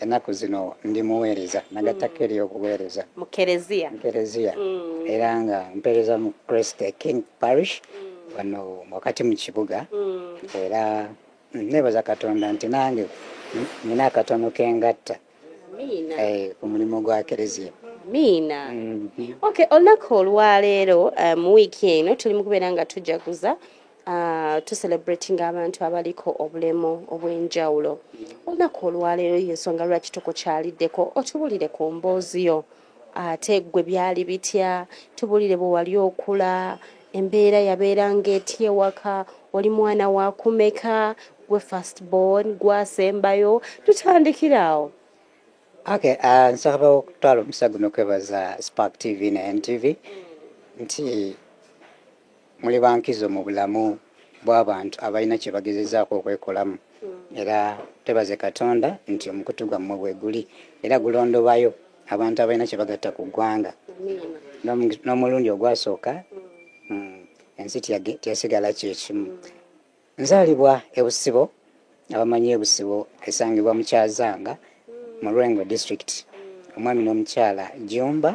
ennaku zino ndi muweereza nagattako mm. eri okuweereza mu kereziya mm. era nga mpeereza mu christ king parish mm. wano wakati mu kibuga era nebaza katonda nti nange nina akatono kengatta eh, ku mulimu gwa kereziya miina mm-hmm. ok olunaku olwaleero eh, mu wiiki eno tuli mu kubeera nga tujaguza Uh, to celebrating abantu abaliko obulemu obw'enjawulo olunaku olwaleero yensonga lwaki tukukyaliddeko otubulire ku mboozi yo ate ggwe byali bitya tubulire bwe wali okula embeera yabeera ng'etya ewaka oli mwana wakumeka gwe first born gwasembayo tutandikira awo okay uh, nsaba okutwala omusa guno kwebaza spark tv ne ntv nti muli bankizo mu bulamu bw'abantu abalina kye bagezezaako okwekolamu era twebaze katonda nti omukutu gwammwe bwe guli era gulondobayo abantu abalina kye bagatta ku ggwanga n'omulundi ogwasooka mm, ensi teyasigala kyekimu nzaalibwa ebusibo abamanyi ebusibo esangibwa mukyazanga mu lwengo district omwami n'omukyala jumba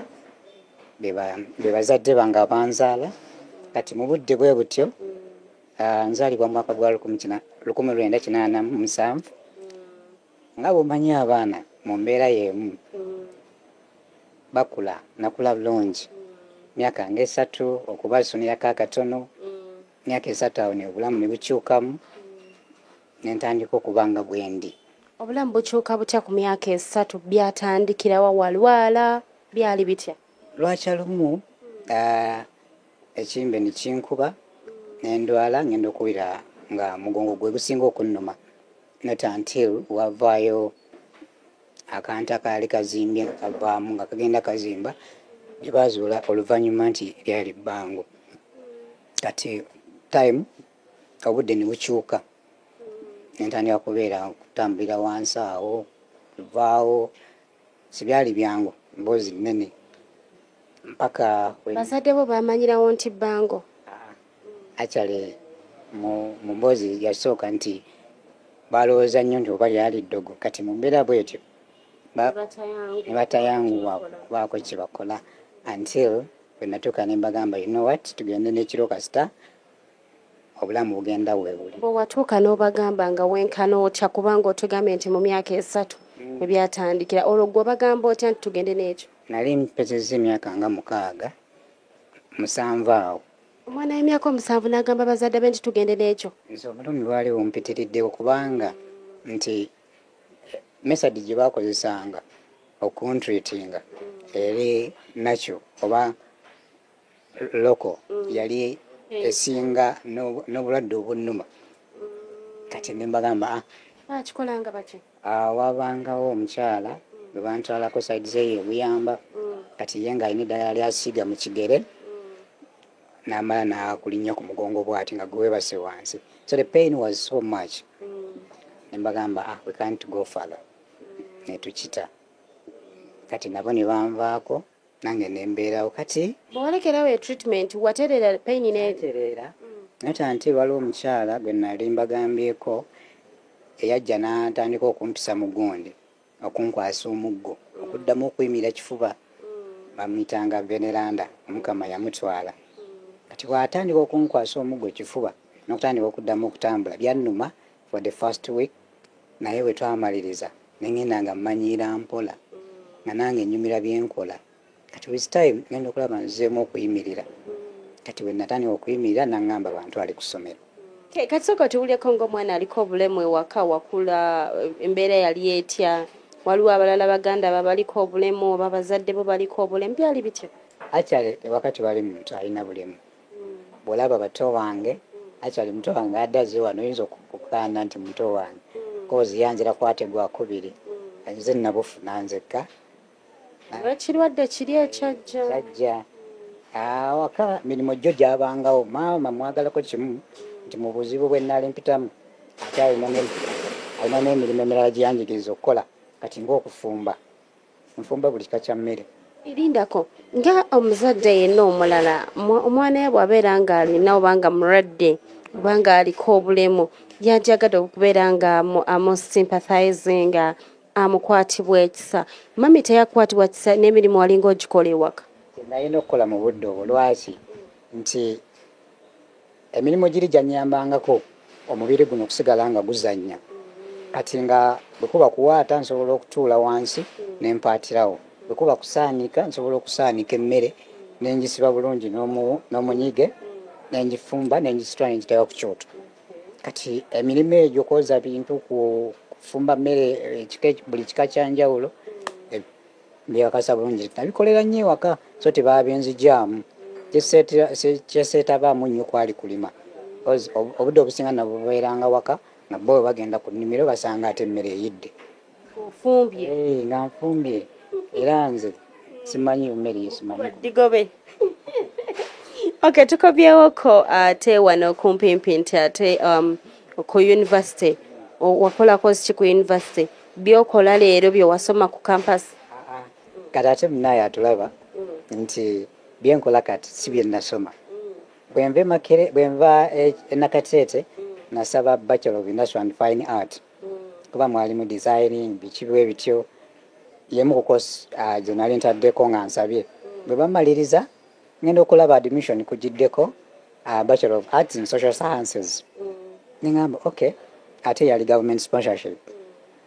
be bazadde bange abanzaala kati mu budde bwe butyo ah, nzaalibwa mu mwaka gwa lukumi lwenda kinaana mu musanvu nga bwomanyi abaana mu mbeera y'emu bakula nakula bulungi myaka nga esatu okuba suniyako akatono myaka esatu awo neobulamu nebukyukamu nentandika okuba nga bwendi obulamu bukyuka butya ku myaka esatu byatandikirawa walwala byali bitya lwakya lumu ah, ekimbe nikinkuba nendwala ngenda okuwulira nga mugongo gwe gusinga okunnuma not until wavaayo akantu akaali kazimbye nga kavaamu nga kagenda kazimba ne baazuula oluvannyuma nti lyali bbango kati time obudde ne bukyuka nentandika kubeera kutambulira wansi awo luvaawo sibyali byangu mboozi nnene mpaka bazadde bo bamanyirawo nti bbango actually mu mboozi yasooka nti balowooza nnyo nti oba lyali ddogo kati mu mbeera bwetyo nebatayanguwa kubaako kyebakola until wenatuuka nembagamba you know what tugende nekiro kasita obulamu bugenda webuli bwewatuuka nobagamba nga wenkana otya kubanga otugambye nti mu myaka esatu mm. ebyatandikira olwo gwe obagamba otya nti tugende n'ekyo nali mpezeza emyaka nga mukaaga musanvu awo omwana w'emyaka omusanvu n'agamba bazadde be nti tugende n'ekyo nze obulumi bwali bumpitiridde okubanga nti mesadi gye baakozesanga okuntreatinga eri nakyo oba loko mm. yali eh. esinga n'obulwadde obunnuma kati ne mbagamba ah. bakikolanga baki Ah, wabangawo omukyala bwe bantwalako saidi zeyo ebuyamba kati ye nga alina eddagala lyasiiga mu kigere namala nakulinya ku mugongo bwati nga gwewebase wansi so the pain was so much nembagamba ah, we can't go father netukita kati nabo nebanvaako nange nembeerawo kati bwewalekerawo e treatment watereera pain netereera naye tanti waliwo omukyala gwe nali mbagambyeko eyajja n'atandika okumpisa mu gundi okunkwasa omuggo okuddamu okuyimira kifuba bamuyitanga veneranda omukama yamutwala kati bwatandika okunkwasa omuggo kifuba n'okutandika okuddamu okutambula byannuma for the first week naye bwe twamaliriza ne ŋŋenda nga mmanyiira mpola nga nange nnyumira bye nkola kati with time ŋenda okulaba nzeemu okuyimirira kati bwe natandika okuyimirira naŋŋamba bantu ali ku ssomero kati soka tuwuleko ng'omwana aliko obulemu ewaka wakula embeera yali etya waliwo abalala baganda babaliko obulemu oba bazadde bo baliko obulemu byali bitya akyale ewakati bali muntu alina bulemu bwolaba bato wange actually muto wange adaze wano oyinza okukaana nti muto wange kozi yanzira kwate gwakubiri nze nabufuna nzekka ekirwadde kiri ekyajjajja awaka mirimu jjo gyabangawo maama mwagalako kimu nti mu buzibu bwe nali mpitamu ate alina n'emirimu emirala gyeyanjigiriza okukola kati ngaokufumba nfumba buli kika kya mmere erindako nga omuzadde yenna omulala omwana ye bwabeera nga alina obanga mulwadde obanga aliko obulemu yajagadde okubeera nga amusympathizing amukwatibwa ekisa mami teyakwatibwa kisa n'emirimu walinga ogikola ewaka naye nokukola mu budde obwo lwaki nti emirimu giri gyanyambangako omubiri guno okusigala nga guzannya kati nga bwekuba kuwaata nsobola okutuula wansi nempaatirawo bwekuba kusaanika nsobola okusaanika emmere nenjisiba bulungi n'omunyige nenjifumba nenjisitula nenjitayo ku kyoto kati emirimu egyo kwoza bintu kufumba mmere buli kika kyanjawulo byewakasa bulungi nabikolera nnyo ewaka so tebaabinzijamu kyeseetabaamu nnyo kwali kulima obudde obusinga nabubeeranga waka nga bo bagenda ku nnimiro basanga ate emmere eyidde eh, nga nfumbye era nze simanyi mmere yesimanyidigobe ok tukobyewoko ate wano kumpimpi nti ate um, ku university wakolako ki ku university byokola leero byewasoma ku kampasi kati ate munaye atulaba mm. nti byenkola kati si byenasoma mm. bwenva e, enakateete mm. nasaba bachelor of industrial and fine art kuba mwalimu designing bikibiwe bityo yemu kukosi gyenali ntaddeko nga nsabye bwe bamaliriza ngenda okulaba admission kugiddeko uh, bachelor of arts in social sciences mm. nengamba okay ate yali government sponsorship mm.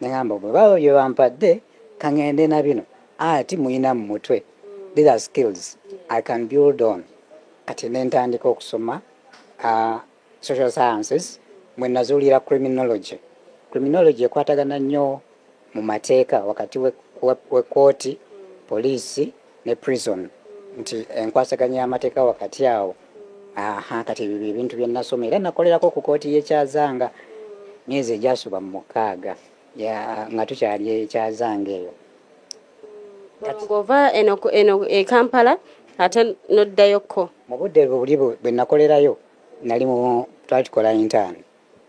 nengamba bwebaba bye bampadde kangende na bino ati muyina mu mutwe mm. these are skills i can build on kati nentandika okusoma uh, social sciences mwe nazuulira criminology criminology ekwatagana nnyo mu mateeka wakati wekkooti we, we poliisi ne prison nti enkwasaganya y'amateeka wakati awo aha kati ebyo byebintu byenasoma era nakolerako ku kooti yekyazanga myezi egyasuba mu mukaaga nga tukyali ekyazanga eyo ng'ova eno eno e kampala ate noddayokko mu budde buli bwe nakolerayo nali mu twali tukola intaani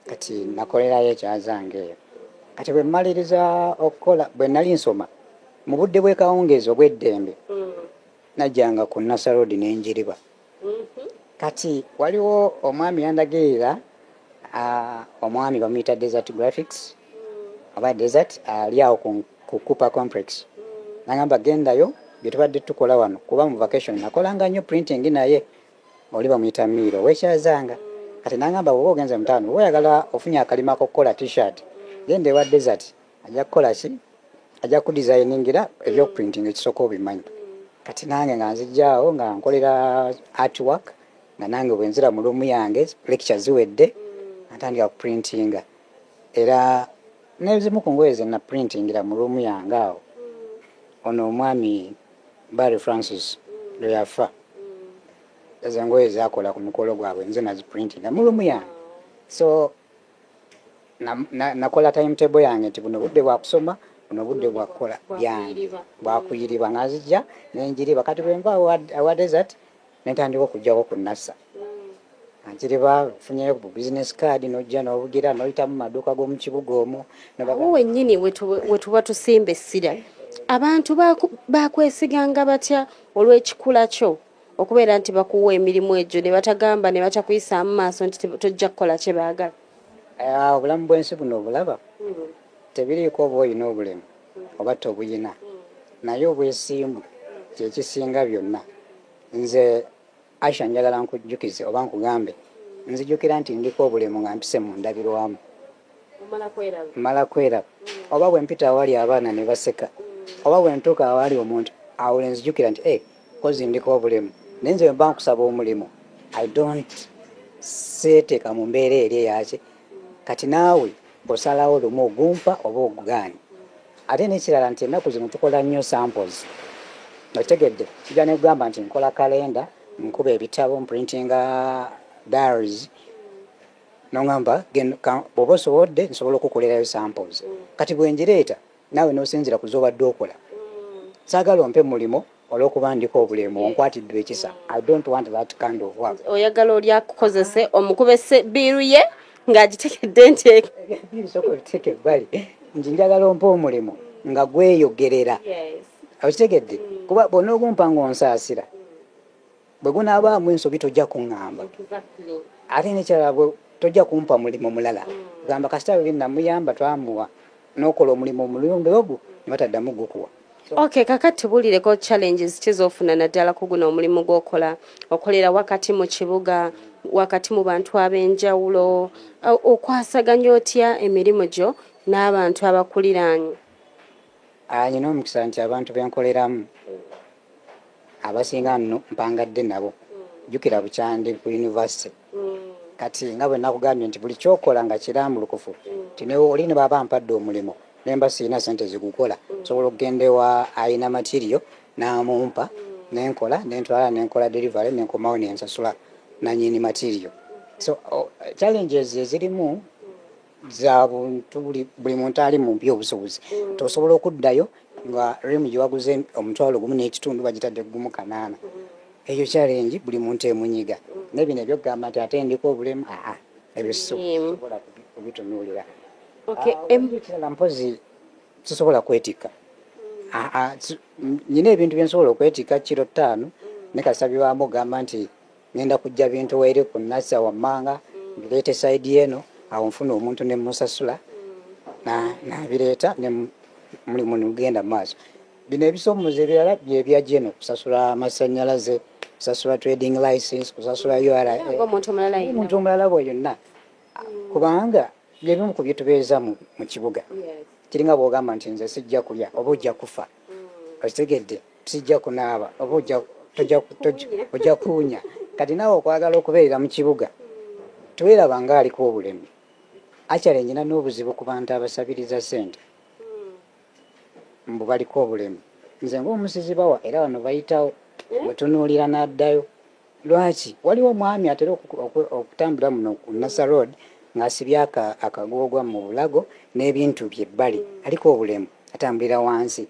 kati nakolerayo ekyazange eyo kati bwe mmaliriza okukola bwe nali nsoma mu budde bw'ekawungeezi obw'eddembe mm. najjanga ku nasaroodi n'enjiriba kati waliwo omwami yandagirira omwami bamuyita desert graphics oba desert ali awo ku cooper complex nagamba gendayo byetubadde tukola wano kuba mu vacation nakolanga nyo printing naye oli bamuyita miiro wekyazanga kati nagamba woba ogenze mutaano woyagala ofunye akalimako kukola t-shirt genda ewa desert ajja kukola ki ajja kudesigningira ebyokuprinting ekisooka obimanyi kati nange nga nzijjaawo nga nkolera artwork nga nange bwenzira mu luumu yange lecture ziwedde atandika kuprintinga era nezimu ku ngoye ze naprintingira mu luumu yange awo ono omwami barry francis lwe yafa ezo ngoye zakola ku mukolo gwabwe nze naziprintinga mu luumu yange so nakola timetable yange nti buno budde bwakusoma buno budde bwakukola byange bwakuyiriba ngazijja nenjiriba kati bwenva awa desert nentandika okujjako ku nasa mm. nkiriba funyeyo ku business card nojja nobugira noyitamu maduuka gomukibuga omu awo wenyini wetuba tusimba essira abantu bakwesiganga batya olwekikula kyo okubeera nti bakuwa emirimu egyo ne batagamba ne batakuyisaamu maaso nti tojja kukola kye baagala ah, obulamu bw'ensi buno obulaba hmm. tebiriiko oba olina obulemu hmm. oba tobuyina hmm. naye obwesimbu kyekisinga byonna nze asha njagala nkujjukize oba nkugambe nzijukira nti ndiko obulemu nga mpise mu ndabirwamu mala kweraba oba bwempita awali abaana ne baseka oba bwentuuka awali omuntu awo lenzijukira nti eh, kozi ndiko obulemu naye nze wemba nkusaba omulimu i don't seeteeka mu mbeera eri eyaki kati naawe osalawo lumu ogumpa oba ogugaanyi ate nekirala nti ennaku zino tukola nnyo samples okitegedde kijja nekugamba nti nkola kalenda nkuba ebitabo mprintinga diaries nongamba bwoba osobodde nsobola okukolerayo samples kati bwenjireeta naawe n'osinzira ku z'obadde okola saagala ompe mulimu olwokuba ndiko obulemu onkwatiddwa ekisa i don't want that kind of work oyagala oli akukozese omukubese biiru ye ng'agitegedde nti biiru soka obiteeka ebbali nti njagala ompe omulimu nga gweyogerera okitegedde mm. kuba bonna ogumpa ng'onsaasira bwe gunaabaamu ensobi tojja kuŋŋamba ate nekyala bwe tojja kumpa mulimu mulala mm. gamba kasita weli namuyamba twamuwa n'okola omulimu omulungi ogwo ne bataddamu gukuwa ok kaka tubulireko challenges kizofuna naddala kuguna omulimu gwokola okolera wakati mu kibuga wakati mu bantu ab'enjawulo okwasaganya otya emirimu gyo n'abantu abakuliraanyi nyina omukisa nti abantu benkoleramu abasinga nno mpangadde nabo jjukira bukyandi ku univesity kati nga bwe nakugambye nti buli kyokola nga kirambulukufu nti newe oli ne baba mpadde omulimu nemba sirina sente zigukola nsobola okugenda ewa ayina matirio namumpa nenkola nentwala nenkola delivery nenkomawo nensasula nanyini matirio so challenges ezirimu zabuntu buli muntu ali mu mpi obusobozi mm. tosobola okuddayo nga rimu gyewaguze omutwalo gumu n'ekitundu bagitadde gumu kanaana mm. ekyo kyalengi buli muntu emunyiga mm. naye bino ebyokugamba nti ate ndiko obulemu aa ebyo sisobola kubitunuulira ekirala ah, mpozi sisobola kwetikka nyina ebintu byensobola okwetikka kiro ttaano ne kasabi wamu ogamba nti ngenda kujja bintu waire ku nasa wammanga mbireeta esaidi eno awo nfuna omuntu ne musasula nabireeta ne mulimu nigenda mu maaso bino ebisomoza ebirala byebyajeno kusasula amasanyalaze kusasula trading license kusasula uraomuntu omulala bwe yonna kubanga byebimu ku byetubeeza mu kibuga kiringa bwogamba nti nze sijja kulya oba ojja kufa okitegedde sijja kunaaba oba ojja kuwunya kati naawe okwagala okubeerera mu kibuga teweraba nga aliko obulemu akyale nyina n'obuzibu ku bantu abasabiriza sente mbu baliko obulemu nze ngaomusizi bawa era bano bayitawo wetunuulira n'addayo lwaki waliwo omwami atera okutambula muno ku nasa road ng'asibye akagoogwa mu bulago n'ebintu bye bbali aliko obulemu atambulira wansi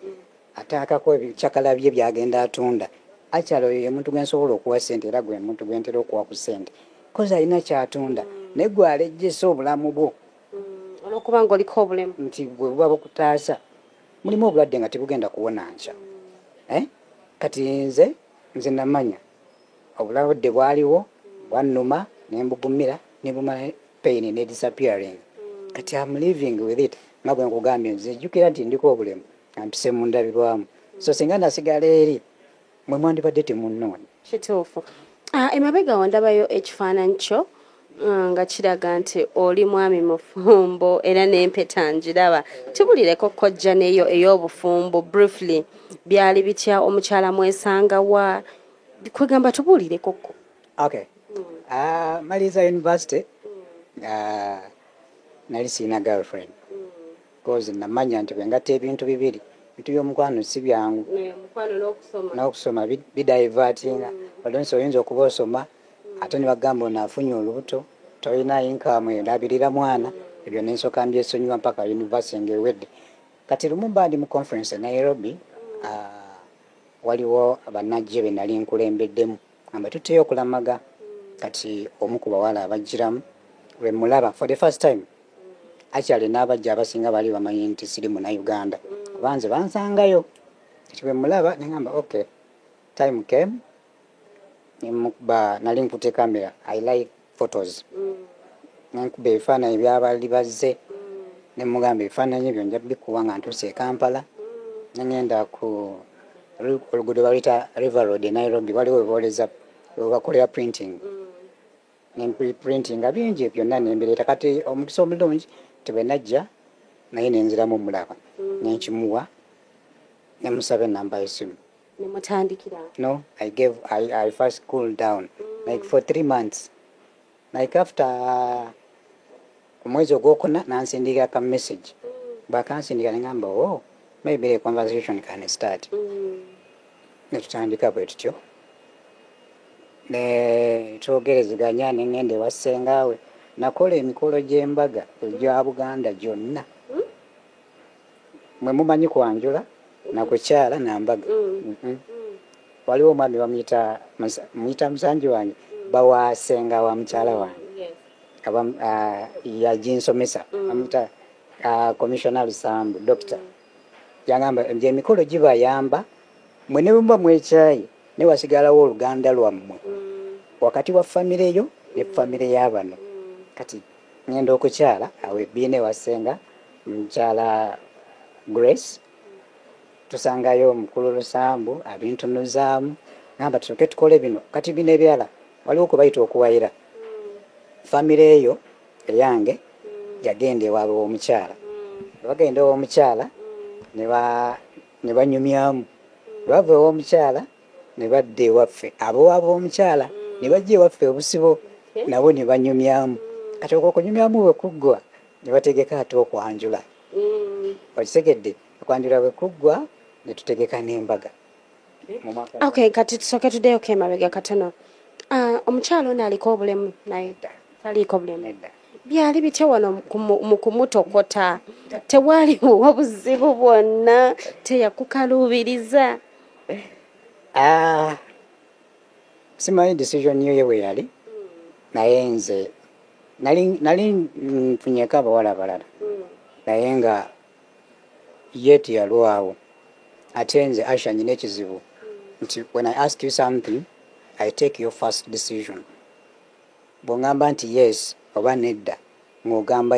ataakako ebikyakala bye byagenda atunda akyala oyo ye muntu gwe nsobola okuwa ssente era gwe muntu gwe ntera okuwa ku ssente kozi alina kyatunda naye gwe alejjesa obulamu bwo mm, olwokuba nga oliko obulemu nti gwe buba bukutaasa mulimu obulwadde nga tebugenda kuwona nkya eh? kati nze nze namanya obulabudde bwaliwo bwannuma nembugumira nebumala pain ne disappearing kati am living with it nga bwe nkugambye nze jjukira nti ndiko obulemu ampise mu ndabirwamu so singa nasigala eri mwe mwandibadde temunnoonya kituufu ah, emabega wandabayo ekifaananyi kyo Ah, nga kiraga nti oli mwami mufumbo era n'empeta ngiraba tubulireko kojja neyo ey'obufumbo briefly byali bitya omukyala mwesanga wa kwegamba tubuulirekoko okay. uh, maliza university uh, nali siina girlfriend kozi namanya nti bwengata ebintu bibiri bintu byomukwano si byangu n'okusoma bidivatinga mm. olonsi oyinza okuba osoma mm. ate nibagamba ono afunye olubuto tolina inkamu elabirira mwana mm. ebyo nensoka mbyesonyiwa mpaka univesity ngaewedde kati lumu mbandi mu conference e nairobi ah, waliwo banajje benali nkulembeddemu amba tuteyo okulamaga kati omu ku bawala abajjiramu lwe mulaba for the first time akyali n'abajja abasinga bali bamanyi nti siri muna uganda kuba nze bansangayo kati bwe mulaba nengamba ok time came nemukuba nali nkute camera i like photos nenkuba ebifaananyi byabali bazze nemugamba ebifaananyi ebyo nja bikuwa nga ntuuse e kampala nengenda ku oluguudo baluyita river road e nairobi waliwo webooleza webakolera printing nemprintinga bingi byonna nembireeta kati omukisa omulungi tebenajja naye nenziramu omulaba nenkimuwa nemusaba enamba yesimu No, I gave, I, I first cooled down, mm. like for three months. Like after uh, mwezi ogwokuna nansindikira ka message mm. bakansindika nengamba o oh, maybe the conversation can start mm. netutandika bwe tutyo netwogerezeganya nengenda ewasengawe nakola emikolo gy'embaga egya buganda gyonna mwe mumanyi kwanjula nakukyala nambaga mm. waliwo omwami bamuyita muyita musanji wange bawasenga wa mukyala mm, wange ah, yaginsomesa mm. amuyita ah, commissioner lusambu dokita yagamba nti emikolo gibayamba mwe ne bwemuba mwekyayi ne wasigalawo oluganda lwammwe wakati wa famireyo ne famire yabano kati ngenda okukyala awo ebbiina ewasenga mukyala grace tusangayo omukulu lusambu abintunuzaamu namba tusoke tukole bino kati bino ebyala waliwo kubayita okuwayira famire eyo eyange yagenda ewaabwe womukyala bagenda owomukyala ne banyumyamu lwava ewomukyala ne badda ewaffe abowa b'omukyala ne bajja ewaffe obusibo nabo ne banyumyamu kati okwo okunyumyamu bwe kuggwa ne bategeka ate okwanjula mm. okitegedde okwanjula bwe kuggwa ne tutegeka n'embaga ok kati tusooke tuddeyo ko emabega katono ah, omukyala ono aliko obulemu naye taliiko bulemu byali bitya wano mu kumutokota tewaliwo obuzibu bwonna teyakukaluubiriza eh, ah, simanyi decision yoye weyali naye nze nali nfunyeko abawala abalala naye nga yeti yalwawo ate nze asha nyina ekizibu nti when i ask you something i take your first decision bwongamba nti yes oba nedda ng'ogamba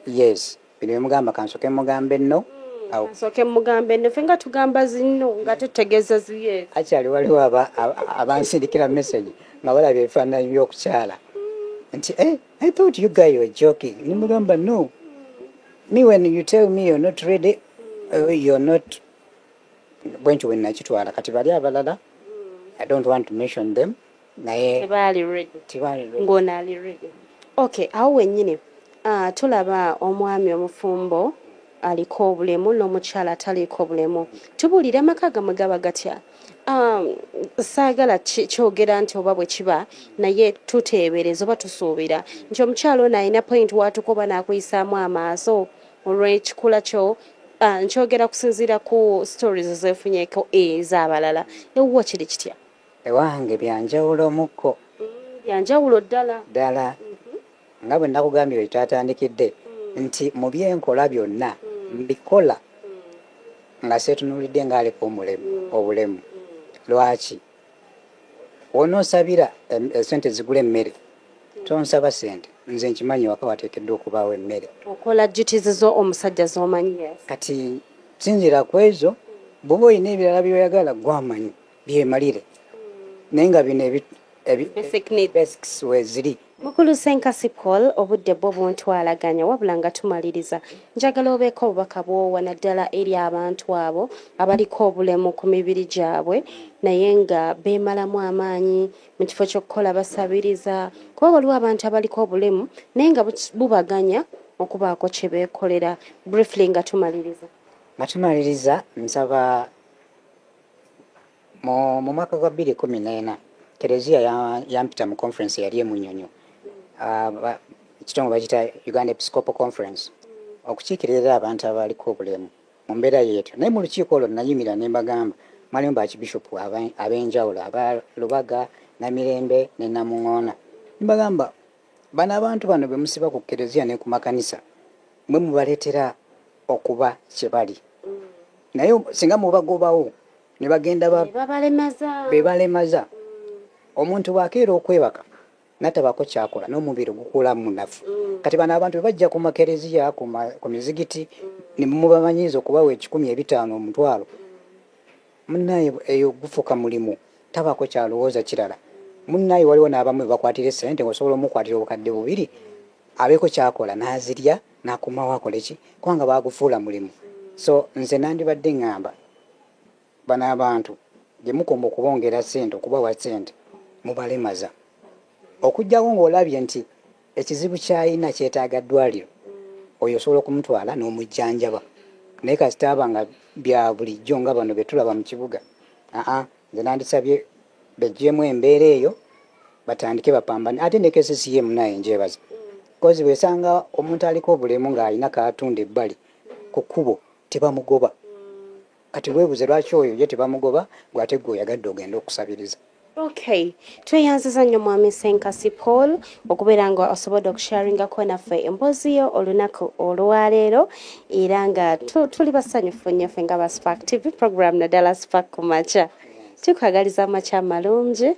yes bino bemugamba kansoke mugambe no hmm, nsoke mugambe no fe nga tugamba zinno nga tutegeeza ziye akyali waliwo abansindikira message nga balaba ebifaananyi by'okukyala hmm. nti eh, i thought you guy were joking nimugamba no me when you tell me you're not ready uh, you're not bwentyo bwenakitwala kati bali abalala hmm. i don't want to mention them naye tebaali ready tebaali ready ngono ali ready okay awo wenyini uh, tulaba omwami omufumbo aliko obulemu n'omukyala ataliiko obulemu tubuulire amaka gamwe gaba gatya um, saagala kyogera nti oba bwe kiba naye tuteebereza oba tusuubira nti omukyala ono alina point waatuka oba n'akuyisaamu amaaso olw'ekikula kyo uh, nkyogera kusinziira ku stories zeefunyeko ez'abalala ewuwo kiri kitya ewange byanjawulo mukko mm, byanjawulo ddala ddala mhm. nga bwe nakugambye bwe twatandikidde mm. nti mu byenkola byonna mm. mbikola nga seetunuulidde ng'aliko omulemu obulemu lwaki wonoosabira esente eh, zigula emmere tonsaba sente nze nkimanyi waka wateekeddwa okubaawo emmere okola duties zo omusajja zomanyi kati sinzira ku ezo bwoba olina ebirala byoyagala gwamanyi byemalire naye nga bino basics weziri mukulu senkasi paul obudde bwo buntwalaganya wabula nga tumaliriza njagala obeeko obubaka bwowa naddala eri abantu abo abaliko obulemu ku mibiri gyabwe naye nga beemalamu amaanyi mu kifo ky'okukola basabiriza kuba waliwo abantu abaliko obulemu naye nga bubaganya okubaako kye beekolera briefly nga tumaliriza nga tumaliriza nsaba mu mu mwaka gwa bbiri kumi n'ena kereziya ya- yampita mu conference eyali emunyonyo Ah, ba- ekitongole bakita uganda episcopal conference okukiikirira abantu abaliko obulemu mu mbeera yeetyo naye mu lukiiko olwo nayimira ne mbagamba mwalimu bakibishopu aba- ab'enjawulo aba lubaga namirembe ne namuŋoona ne mbagamba bano abantu bano bemusiba ku kereziya ne ku makanisa mwe mubaletera okuba kyebali naye singa mubagobawo nebagenda bebalemaza omuntu bwakeera okwebaka natabako kyakola nomubiri gukula munafu mm. kati bano abantu bebajja ku makereziya ku mizigiti nemubamanyiza okubawa ekikumi ebitaano omutwalo munaye eyo gufuka mulimu tabako kyalowooza kirala munaye waliwo n'abamu bebakwatira esente ngaosobola omukwatira obukadde bubiri abeeko kyakola n'azirya nakomawo akoleki kubanga bagufuula mulimu so nze nandibadde ŋŋamba bano abantu gye mukoma okubongera sente okubawa sente mubalemaza okuggyako ng'olabye nti ekizibu kyayina kyetaaga ddwaliro oyo osobola okumutwala n'omujjanjaba naye kasita aba nga bya bulijjo nga bano betulaba mu kibuga aa nze nandisabye bejjemu embeera eyo batandike bapambane ate ne kccm naye njebaza kozi bwesanga omuntu aliko obulemu ng'alina katunda ebbali ku kkubo tebamugoba kati webuze lwaki oyo ye tebamugoba gwe ate gwe oyagadde ogenda okusabiriza okay tweyanziza nnyo mwami senkasi paul okubeera nga osobodde okusharingako naffe emboozi yo olunaku olwaleero era nga tuli basanyufu nnyo fe nga baspak tv program naddala spak kumakya tukwagaliza amakya amalungi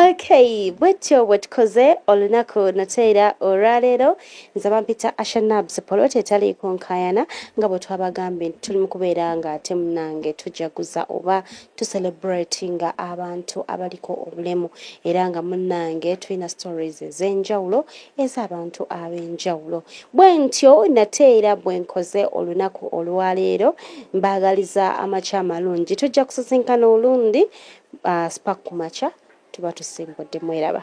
okay bwetyo bwetukoze olunaku nateera olwaleero nze bampita ashanabs poloti etaliiko nkayana nga bwe twabagambye nti tuli mu kubeera nga ate munange tujaguza oba tucelebratinga abantu abaliko obulemu era nga munange tulina stories ez'enjawulo ez'abantu ab'enjawulo bwe ntyo nate era bwe nkoze olunaku olwaleero mbaagaliza amakya amalungi tujja kusisinkana olundi uh, spak ku makya tuba tusimbudde mweraba